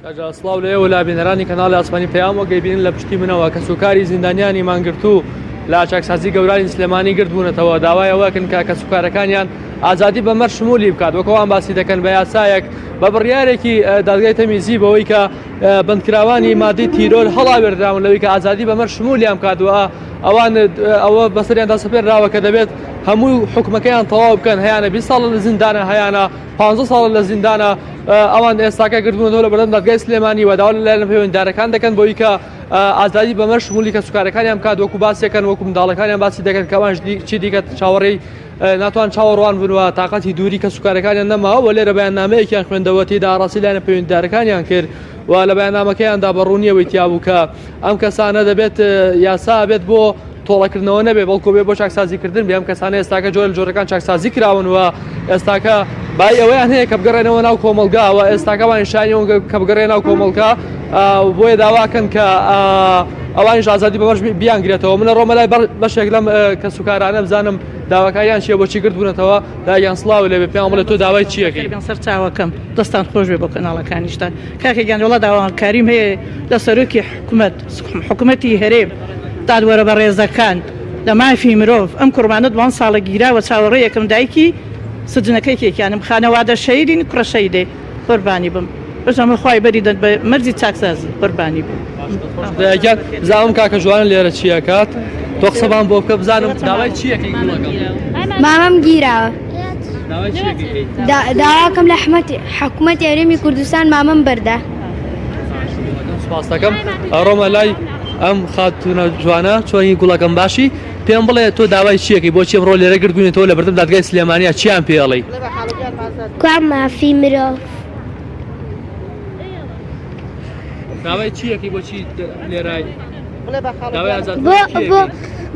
کاجا سڵاو لە ئێوە لا بینەرانی کەناڵی ئاسمانی پەیام وەگەی بینن لە پشتی منەوە کە سوکاری زیندانیانی مانگرت و لا چاکسازی گەورانی سلێمانی گرت بوونەتەوە داوایەوەکن کە کە سوکارەکانیان ئازادی بە مەر شمولی بکات وەکەوان باسی دەکەن بە یاسایەک بە بڕیارێکی دادگای تەمیزی بەوەی کە بندکراوانی مادی تیرۆر هەڵاوێردراون لەوەی کە ئازادی بە مەر شمولیان بکاتوە ئەوان ئەوە بەسەریاندا سپێنراوە کە دەبێت هەموو حکومەکەیان تەواو بکەن هەیەە 20 ساڵ لە زیندانە هەیەە پانزە ساڵە لە زیندانە ئەوان ئێستاکە گردبوونەوە لە بەردەم دادگای سلێمانی و داوا لەلایەن پەیوەنددارەکان دەکەن بۆی کە ئازادی بەمە شمولی کە سوکارەکانیان بکات وەکو باسیەکەن وەکو منداڵەکانیان باسی دەکەن کەوانش چی دیکە چاوەڕێی ناتوان چاوەڕوان بنوە تااقەتی دووری کە سوکارەکانیان نەماوە وە لێرە بەیان نامەیەکیان خوێندەوە تێدا ئاڕاسی لایەنە پەیوەنددارەکانیان کرد و لە بەیانامەکەیاندا بەڕوونیەوەی تیابوو کە ئەم کەسانە دەبێت یاسا بێت بۆ تۆڵەکردنەوە نەبێت بەڵکو بێت بۆ چاکسازیکردن بێ ئەم کەسانە ئێستاکە جۆرە جۆرەکان چاکسازی کراون و ئێستاکە بای ئەوەیان هەیە کە بگەڕێنەوە ناو کۆمەلگاوە ئێستاکە وانشانیەوە کە بگەڕێ ناو کۆمەلکە بۆیە داواکەن کە ئەوانی ئازادی بەبەر بیانگرێتەوە منە ڕۆمە لای بەشێک لەم کە سوکارانە بزانم داواکاریان چیە بۆچی گردبوونەتەوە دایان سلااو لێ پێیان بڵێت تۆ داوای چیەکەی سەر چاوەکەم دەستان خۆش بێ بۆ کەناڵەکانیشتان کاکەگەیان وڵا داواکاریم هەیە لە سەرۆکی حکوومەت سڵام حکومەتی هەرێم دادوەرە بەڕێزەکان لە مافی مرۆڤ ئەم کوڕمانە دوان ساڵە گیراوە چاوەڕێ یەکەم دایکی سجنەکەی کێکیانم خانەوادە شەیدین کوڕە شەیدێ قوربانی بم بژەمە خوای بەری دەن بە مەرزی چاکسازی قوربانی بم دایکیان زاوم کاکە جوان لێرە چیەکات تۆ قسەبان بۆ بکە بزانم داوای چیەکەی مامەم گیراوە داواکەم لە حمەتی حکوومەت یاریمی کوردستان مامەم بەردە سوپاستەکەم ئەڕۆمە لای ئەم خاتونە جوانە چۆنی گوڵەکەم باشی پێم بڵێ تۆ داوای چیەکەی بۆ چێ بڕۆ لێرە گردبوونێتەوە لە بەردەم دادگای سلێمانیا چیان پێڵی کوا مافی مرۆ داوای چیەکەی بۆچی لێرای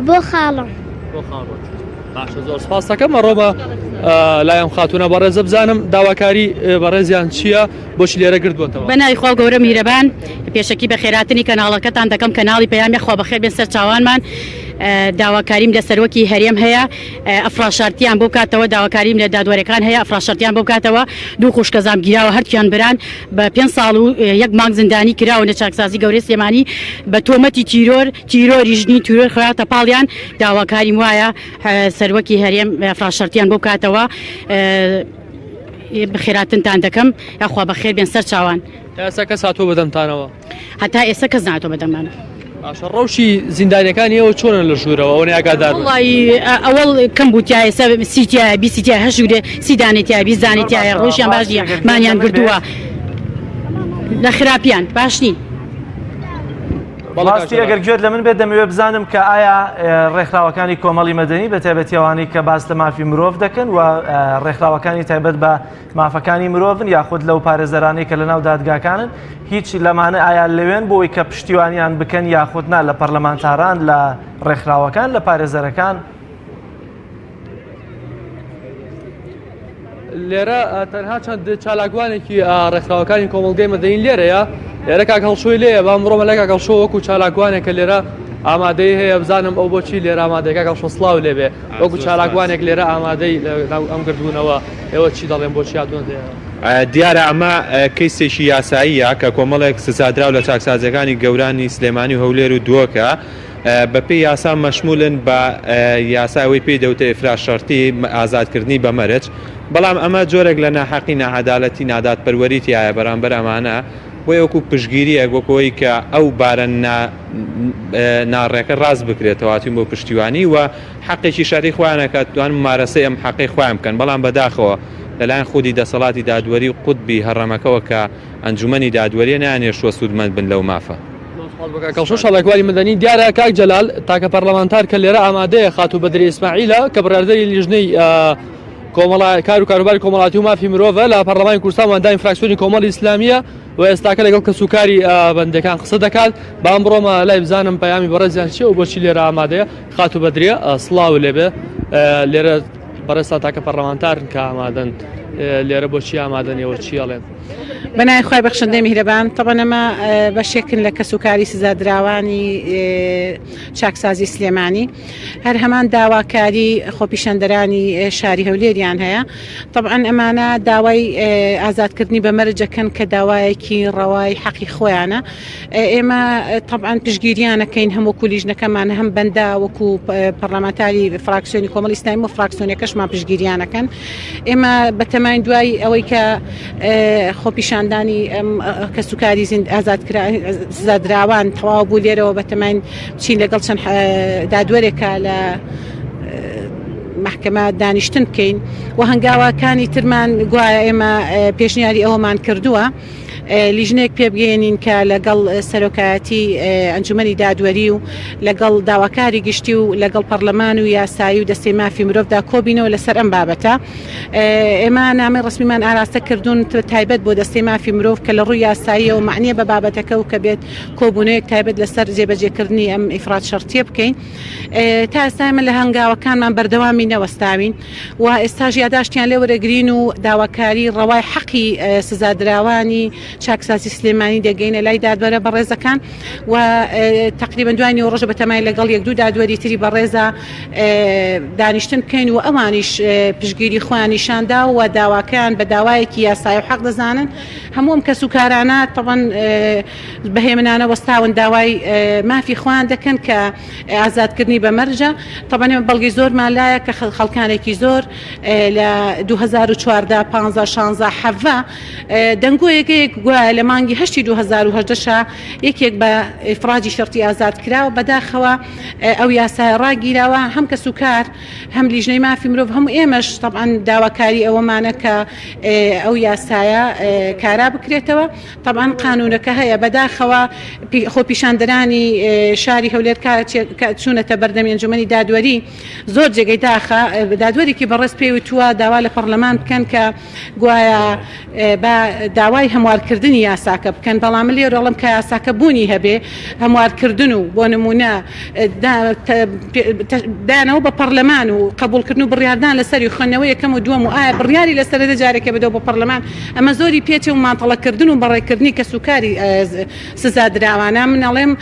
بۆ خاڵم بۆ خاڵم باشە زۆر سپاستەکەم ئەڕۆمە لایەم خاتونە بەڕێزە بزانم داواکاری بەڕێزیان چییە؟ بۆچی لێرە گردووەتەوە؟ بە ناوی خوا و گەورە میرەبان پێشەکی بە خێراتنی کەناڵەکەتان دەکەم کەناڵی پەیامی خوا بەخێر بێن سەر چاوانمان داواکاریم لە سەروەکی هەرێم هەیە ئەفراشارتیان بۆ کاتەوە داواکاریم لە دادوەرەکان هەیە ئەفراشارتیان بۆ کاتەوە دوو خوشکە زامگیراوە هەرکیان بران بە پێ ساڵ و یەک مانگ زیندانی کراوە لە چاکسازی گەورەی سلێمانی بە تۆمەتی تیرۆر تیرۆری ژنی تیرۆر خراوەتە پاڵیان داواکاریم وایە سەروەکی هەرێم ئەفراشارتیان بۆ کاتەوە بەخێراتنتان دەکەم یاخوا بەخێر بێن سەر چاوان ئێستا کەس هاتۆ بەدەمتانەوە هەتا ئێستا کەس ناتۆ بەدەمان باشە ڕەوشی زیندانەکانی ئەوە چۆنە لە ژوورەوە ئەوە ناگادار بن. وڵی ئەوەڵ کەم بووتیایە سە سیتیایە بیسیتیا هەژوورێ سیدانێتیا بیزانێتیایە ڕۆژیان باش نیە مانیان بردووە لە خراپیان باش نین بەڕاستی ئەگەر گوێت لە من بێت دەمەوێت بزانم کە ئایا ڕێکخراوەکانی کۆمەڵی مەدەنی بە تایبەتیەوانی کە باس لە مافی مرۆڤ دەکەن و ڕێکخراوەکانی تایبەت بە مافەکانی مرۆڤن یاخود لەو پارێزەرانی کە لە ناو دادگاکانن هیچ لەمانە ئایا لەوێن بۆی کە پشتیوانیان بکەن یاخودنا لە پەرلەمانتاران لە ڕێکخراوەکان لە پارێزەرەکان لێرە تەنها چەند چالاکوانێکی ڕێکخراوەکانی کۆمەلگەی مەدەین لێرەیە لێرە کاک هەڵشۆی لێە بە ئەمڕۆ مەلای کاک هەڵشۆ وەکو چالاکوانێک کە لێرە ئامادەی هەیە بزانم ئەو بۆچی لێرە ئامادەکە کاک شۆسلااو لێبێ وەکو چالاکوانێک لێرە ئامادەی ئەم گردبوونەوە ئێوە چی دەڵێن بۆچی هاتوون دیارە ئەمە کەیسێکی یاساییە کە کۆمەڵێک سزادراو لە چاکسازەکانی گەورانی سلێمانی هەولێر و دووەکە بەپێی یاسا مەشمولن بە یاسا ئەوەی پێی دەوتە ئفراز شەرتی ئازادکردنی بە مەرج بەڵام ئەمە جۆرێک لە ناحەقی ناعەدالەتی نادات پەروەری تایە بەرامبەر ئەمانە بۆ وەکو پشگیریەک وەکەوەی کە ئەو بارە ناڕێکە ڕاست بکرێتەوەاتین بۆ پشتیوانی و حەقێکی شاری خۆیانەکات توان مارەسە ئەم حەقی خۆیان بکەن بەڵام بەداخەوە لەلایەن خودی دەسەڵاتی دادوەری و قوتبی هەڕەمەکەەوە کە ئەنجومی دادوەریە نانێشتوە سوودمەند بن لەو مافە. زۆر سوپاس بۆ کاک کەڵشۆ شەڕێکواری مەدەنی. دیارە کاک جەلال تاکە پەرلەمانتار کە لێرە ئامادەیە خاتوو بەدری ئیسماعیلە کە بڕاردەری لیژنەی کۆمەڵا کار و کاروباری کۆمەڵاتی و مافی مرۆڤە لە پەرلەمانی کوردستان واندامی فراکسیۆنی کۆمەڵی ئیسلامیە و ئێستاکە لەگەڵ کەسوکاری بەندەکان قسە دەکات بام بڕۆمە لای بزانم پەیامی بەڕێزیان چیە و بۆچی لێرە ئامادەیە خاتوو بەدرێ سڵاو لێبێ لێرە بەڕێستا تاکە پەرلەمانتارن کە ئامادەن لێرە بۆچی ئامادەنیەوە چیڵێن بەناوی خوای بەخشندەی میهرەبان طبعا ئەمە بەشێکن لە کەسوکاری سزادراوانی چاکسازی سلێمانی هەر هەمان داواکاری خۆپیشاندەرانی شاری هەولێریان هەیە طبعا ئەمانە داوای ئازادکردنی بە مەرجەکەن کە داوایەکی ڕەوای حەقی خۆیانە ئێمە طبعا پشگیریانەکەین هەموو کولیژنەکەمان هەم بەندا وەکو پەرلەمانتاری فراکسیۆنی کۆمەڵ ئیسلامی و فراکسیۆنەکەشمان پشگیریانەکەن ئێمە بەتەماین دوای ئەوەی کە خۆپیشاندانی کەسوکاری ئازادکرازادراوان تەواو بوو لێرەوە بەتەماین چین لەگەڵ چەند دادوەرێکە لە محکمە دانیشتن بکەین و هەنگاواکانی ترمان گوایە ئێمە پێشنیاری ئەوەمان کردووە. لیژنەیەک پێبگەیەنین کە لەگەڵ سەرۆکایەتی ئەنجومەنی دادوەری و لەگەڵ داواکاری گشتی و لەگەڵ پەرلەمان و یاسایی و دەستەی مافی مرۆڤدا کۆبینەوە لەسەر ئەم بابەتە ئێمە نامی ڕسمیمان ئاراستە کردوون تایبەت بۆ دەستەی مافی مرۆڤ کە لە ڕووی یاسایی و معنیە بە بابەتەکە و کە بێت کۆبوونەیەک تایبەت لەسەر جێبەجێکردنی ئەم ئیفراد شەرتیە بکەین تا ئێستا ئمە لە هەنگاوەکانمان بەردەوامی نەوەستاوین و ئێستاش یاداشتیان لێ وەرەگرین و داواکاری ڕەوای حەقی سزادراوانی چاکسازی سلێمانی دەگەینە لای دادوەرە بەڕێزەکان و تقریبا دوای نیو ڕۆژە بەتەمای لەگەڵ یەک دوو دادوەری تری بەڕێزە دانیشتن بکەین و ئەوانیش پشگیری خۆیان نیشاندا و داواکەیان بە داوایەکی یاسای و حەق دەزانن هەمووم کەس و کارانە تەبەن بەهێمنانە وەستاون داوای مافی خۆیان دەکەن کە ئازاد کردنی بە مەرجە تەبەنێ بەڵگی زۆرمان لایە کە خەڵکانێکی زۆر لە 2014 15 16 حەڤە دەنگۆیەکەیەک گوایە لە مانگی هەشتی 2010 یەکێک بە ئفراجی شرتی ئازاد کراوە بەداخەوە ئەو یاسای ڕاگیراوە هەم کە سوکار هەم لیژنەی مافی مرۆڤ هەموو ئێمەش طبعاان داواکاری ئەوەمانە کە ئەو یاسایە کارا بکرێتەوە تەبعەن قانوونەکە هەیە، بەداخەوە خۆپیشاندەرانی شاری هەولێر کاتێک چوونەتە بەردەمی ئەنجوومەنی دادوەری زۆر جێگەی داخە، دادوەرێکی بەڕێز پێی وتووە داوا لە پەڕلەمان بکەن کە گوایە با داوای هەموارکردنی یاساکە بکەن، بەڵام من لێرە دەڵێم کە یاساکە بوونی هەبێ هەموارکردن و بۆ نموونە دانەوە بە پەڕلەمان و قەبوڵکردن و بڕیاردان لەسەری و خوێندنەوە یەکەم و دووەم و ئایا بڕیاری لەسەرەدە جارێکێ بدەوە بۆ پەڕلەمان ئەمە زۆری پێچێ و ماتەڵەکردن و بەڕێکردنی کەسوکاری سزادراوانە من ئەڵێم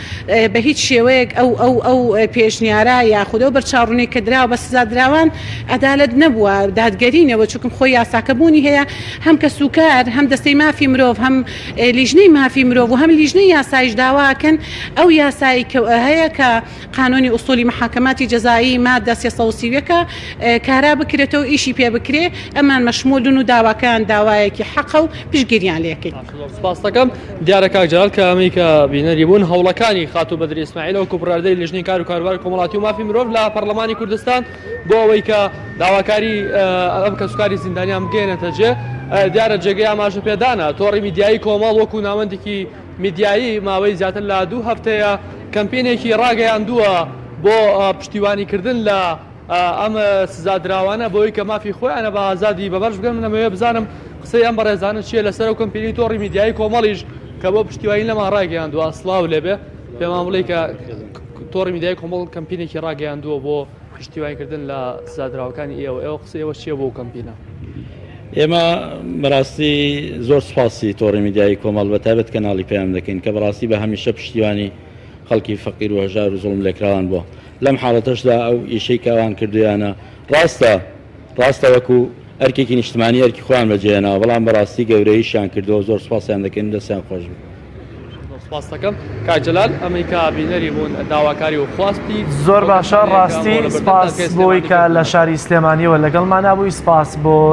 بە هیچ شێوەیەک ئەو ئەو ئەو پێشنیارە یاخود ئەو بەرچاوڕونی کە دراوە بە سزادراوان عەدالەت نەبووە دادگەری نەبووە چونکم خۆی یاساکە بوونی هەیە هەم کەسوکار هەم دەستەی مافی مرۆڤ هەم لیژنەی مافی مرۆڤ و هەم لیژنەی یاسایش داوا ئەکەن ئەو یاسای کە هەیە کە قانونی اصولی محاکماتی جزائی مادە سێ سەد و سی و یەک ە کارا بکرێتەوە ئیشی پێ بکرێ ئەمان مەشمولن و داواکەیان داوایەکی حەقە و پشتگیریان لێ کەین. زۆر سپاست دەکەم. دیارە کاک جەلال کە ئەمەی کە بینەری بوون هەوڵەکانی خاتوو بەدر ئیسماعیلە وەکوو بڕیاردەری لیژنەی کار و کاروباری کۆمەڵاتی و مافی مرۆڤ لە پەڕڵەمانی کوردستان بۆ ئەوەی کە داواکاری ئەم کەسوکاری زیندانیان بگەیەنێتە جێ دیارە جێگەی ئاماژە پێدانە تۆڕی میدیایی کۆمەڵ وەکوو ناوەندێکی میدیایی ماوەی زیاتر لە دوو هەفتەیە کەمپینێکی ڕاگەیاندووە بۆ پشتیوانیکردن لە ئەم سزادراوانە بەوەی کە مافی خۆیانە بە ئازادی بەبەرش بگەن منەمەوێ بزانم قسەی ئەم بەڕێزانە چییە لەسەر و کەمپینی تۆڕی میدیایی کۆمەڵیش کە بۆ پشتیوانی لەمان ڕاگەیاندووە سڵاو لێبێ پێمان بڵێ کە تۆڕی میدیای کۆمەڵ کەمپینێکی ڕاگەیاندووە بۆ پشتیوانی کردن لە سزادراوەکانی ئێوە ئێوە قسە ئێوە چییە بۆ کەمپینە؟ ئێمە بەڕاستی زۆر سپاسی تۆڕی میدیایی کۆمەڵ بە تایبەت کەناڵی پەیام دەکەین کە بەڕاستی بە هەمیشە پشتیوانی خەڵکی فەقیر و هەژار و زوڵم لێکراوان بووە لەم حاڵەتەشدا ئەو ئیشەی کە ئەوان کردویانە ڕاستە ڕاستە وەکو ئەرکێکی نیشتمانی ئەرکی خۆیان بەجێهێناوە بەڵام بەڕاستی گەورەیشیان کردووە زۆر سپاسیان دەکەین دەستیان خۆش بێت زۆر باشە ڕاستی سپاس بۆی کە لە شاری سلێمانیەوە لەگەڵمانە بووی سپاس بۆ.